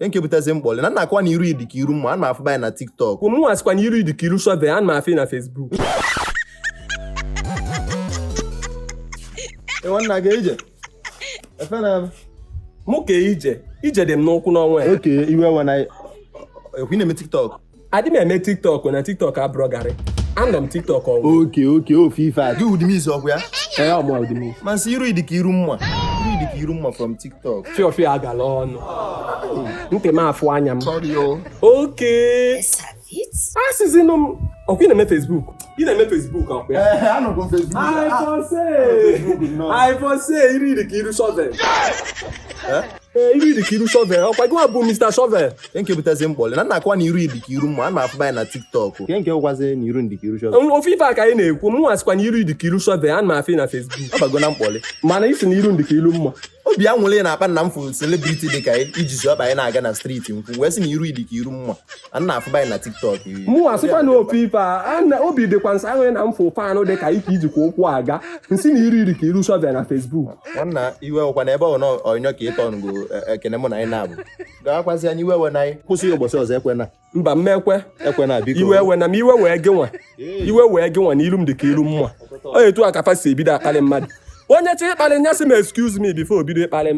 nke butezi mkpọlị na nakwa na iru ị dị ka iru mma a na-afụba anyị na tiktok mụ asịkwa na iru ị dị ka iru shovel a na-afụ na facebook nwanna gị ije efe na mụ ka ije ije dị m n'ụkwụ n'ọnwa ya okay iwe nwana ekwu na-eme tiktok adị m eme tiktok na tiktok abụrọ garị anọ m tiktok ọnwụ okay okay ọ bụ ife a gị udimiz ọkwa ya ee ọ mụ udimiz m asị iru ị dị ka iru mma iru ị dị ka iru mma from tiktok fiọfịọ agala ọnụ ntị m afụ anya m okay asịzinụ m ọkwa ị na-eme facebook ị na-eme facebook ọkwa ya ee anọgo m facebook I for say, I for say, iru ị dị ka iru shovel. ee iru ị dị ka iru shovel ọkwa gị bụ Mr. shovel nke nke butezi mkpọlị na nna akwa na iru ị dị ka iru mma a na-afụ anyị na tiktok nke nke i kwuzi na iru m dị ka iru shovel ọ bụ ife a ka anyị na-ekwu mụ asịkwa na iru ị dị ka iru shovel a na-afụ na Facebook ọ bago na mkpọlị mana ị sị na iru m dị ka iru mma obi anwụlị na-akpa m na m fụrụ celebrity dị ka ị ji ọkpa anyị na-aga na street m kwu wee sị na iru ị dị ka iru mma a na-afụba anyị na tiktok mụ asịkwa na ọ bụ ife a obi dịkwa m ụsọ ahụ na m fụ fan dị ka ị ka jikwa ụkwụ aga m sị na iru ị dị ka iru shovel na facebook nwanna iwe ọkwa na ebe ọ na ọnyọ ka ịtọ ngo e, ekene mụ na anyị na-abụ gawakwazi anyị iwe ewena anyị kwụsị ụbọchị ọzọ ekwena mba m ekwe ekwena biko iwe ewena m iwe wee gị nwa iwe wee gị nwa na ilu m dị ka ilu mma ọ etu a ka fa si ebido akpalị mmadụ onye chọrọ ịkpalị nya sị m excuse me before o bido ịkpalị m